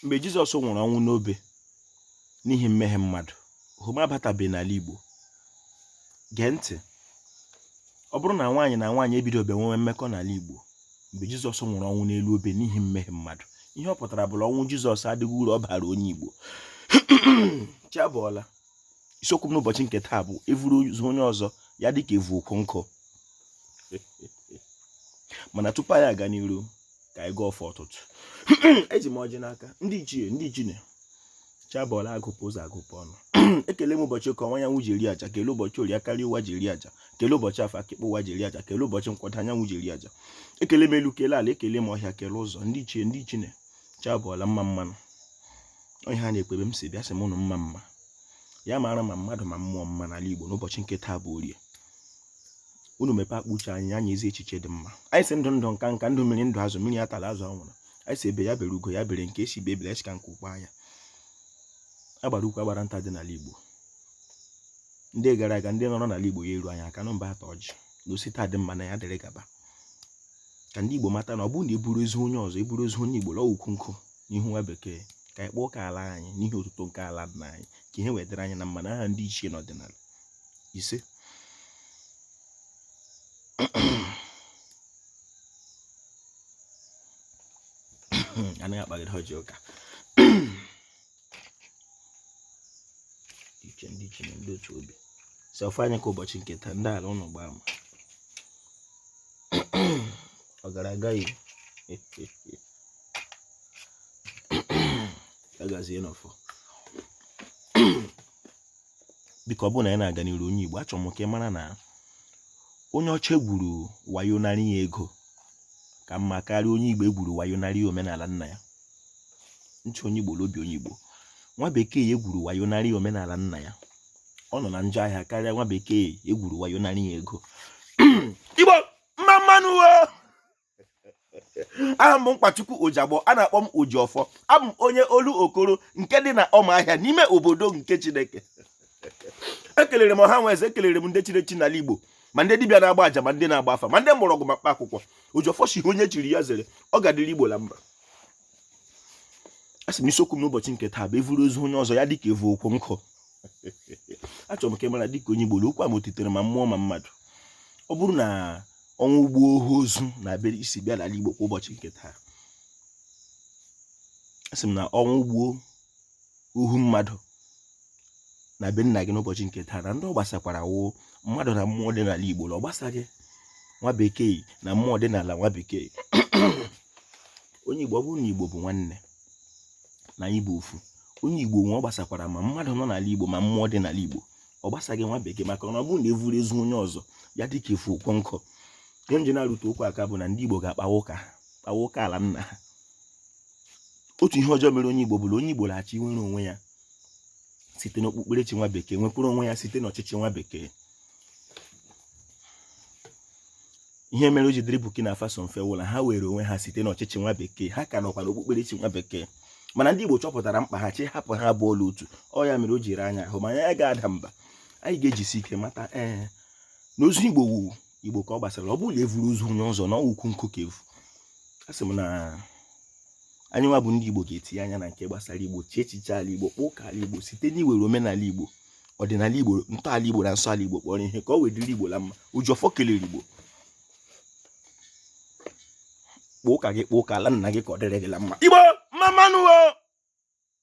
mgbe Jizọs nwụrụ ọnwụ n'obe n'ihi mmehie mmadụ homo abatabeghị n'ala Igbo gee ntị ọ bụrụ na nwaanyị na nwaanyị ebidobe nwewe mmekọ n'ala Igbo mgbe Jizọs nwụrụ ọnwụ n'elu obe n'ihi mmehie mmadụ ihe ọ pụtara bụ la ọnwụ Jizọs adịghị uru ọ bara onye Igbo chi abọọla isiokwu m n'ụbọchị nke taa bụ evuru ozu onye ọzọ ya dịka evu ukwu nkụ mana tupu anyị aga n'iru ka anyị gọọ ọfọ ụtụtụ eji m ọjị n'aka ndị ichie ndị ichine chi abọọla agụpụ ụzọ agụpụ ọnụ ekele m ụbọchị eke ọwụwa anyanwụ ji eri aja kele ụbọchị orie aka nri ụwa ji eri aja kele ụbọchị afọ aka ịkpa ụwa ji eri aja kele ụbọchị nkwọ ọdịda anyanwụ ji eri aja ekele m elu kele ala ekele m ọhịa kele ụzọ ndị ichie ndị ichine chi abọọla mma mma nụ onye ha na-ekpebe m si bịa sị m ụnụ mma mma ya mara ma mmadụ ma mmụọ mma n'ala Igbo n'ụbọchị nke taa bụ orie unu mepe akpa uche anyị nye anyị ezi echiche dị mma anyị sị ndụ ndụ nka nka ndụ mmiri ndụ azụ mmiri atala azụ anwụla anyị sị egbe ya bere ugo ya bere nke sị ibe ebele asị ka nku kwaa ya agbara ukwu agbara nta dị n'ala Igbo ndị gara aga ndị nọrọ n'ala Igbo ya eru anya aka nụ bịa taa ọjị na o si taa dị mma na ya dịrị gaba ka ndị Igbo mata na ọ bụrụ na eburu ozu onye ọzọ eburu ozu onye Igbo lọọ ukwu nkụ n'ihu nwa bekee ka anyị kpọọ ka ala anyị n'ihi otuto nke ala dị anyị ka ihe wee dịrị anyị na mma n'aha ndị ichie n'ọdịnala ise anaghị akpagide ọjị ụka ichie ndị ichie na ndị otu obi sị ọfọ anyị ka ụbọchị nke taa ndị ala ụnụ gbaa ama ọ gara agaghị agazie n'ọfọ biko ọ bụrụ na anyị na-aga n'iru onye Igbo achọrọ m ka ị mara na onye ọcha egwuru wayo narị ya ego ka mma karịa onye Igbo egwuru wayo narị ya omenala nna ya ntị onye Igbo la ọ bụ onye Igbo nwa bekee ya egwuru wayo narị ya omenala nna ya ọ nọ na njọ ahịa karịa nwa bekee egwuru wayo narị ya ego Igbo mma mma nụ aha m bụ nkwachukwu ojiagbọ a na-akpọ m ojiọfọ abụ m onye olokoro nke dị na ụmụahịa n'ime obodo nke chineke ekelere m ọha na eze ekelere m ndị chiri echi n'ala igbo ma ndị dibịa na-agba aja ma ndị na-agba afa ma ndị mgbọrọgwụ ma mkpa akwụkwọ ojiọfọ sị onye chiri ya zere ọ ga-adịrị igbo na mma asị m isiokwu m n'ụbọchị nke taa bụ evuru ozu onye ọzọ ya dịka evu ukwu nkụ achọrọ m ka ị mara dịka onye Igbo la okwu a metụtara ma mmụọ ma mmadụ ọ bụrụ na o nwee ụgbọ ohu ọzọ na-abịa isi bịa n'ala Igbo kwa ụbọchị nke taa asị m na o nwee ụgbọ ohu mmadụ na be nna gị n'ụbọchị nke taa na ndị ọ gbasakwara wụ mmadụ na mmụọ dị n'ala Igbo na ọ gbasaghị nwa bekee na mmụọ dị n'ala nwa bekee onye Igbo ọ bụrụ na Igbo bụ nwanne na anyị bụ ofu onye Igbo nwụọ ọ gbasakwara ma mmadụ nọ n'ala Igbo ma mmụọ dị n'ala Igbo ọ gbasaghị nwa bekee maka na ọ bụrụ na e vuru ozu onye ọzọ ya dịka e vu ukwu nkụ ihe m ji na-arụte okwu aka bụ na ndị Igbo ga-akpawa ụka kpawa ụka ala nna ha otu ihe ọjọọ mere onye Igbo bụ na onye Igbo na-achọ inwere onwe ya site n'okpukperechi nwa bekee nwekwuru onwe ya site n'ọchịchị nwa bekee ihe mere o ji dịrị Burkina Faso mfe wụ la ha nwere onwe ha site n'ọchịchị nwa bekee ha ka nọkwa n'okpukperechi nwa bekee mana ndị Igbo chọpụtara mkpa ha ji hapụ ha abụọ la otu ọ ya mere o ji ara anyị ahụ mana anyị agaghị ada mba anyị ga-ejisi ike mata ee na ozu Igbo wụ Igbo ka ọ gbasara ọ bụrụ na e vuru ozu onye ọzọ na ọ wụ ukwu nkụ ka e vu asị m na anyị nwa bụ ndị Igbo ga-etinye anya na nke gbasara Igbo chie echiche ala Igbo kpaa ụka ala Igbo site n'iwere omenala Igbo ọdịnala Igbo ntọala Igbo na nsọ ala Igbo kpọrọ ihe ka o wee dịrị Igbo la mma Ojiọfọ kelere Igbo kpaa ụka gị kpaa ụka ala nna gị ka ọ dịrị gị la mma Igbo mma mma nụ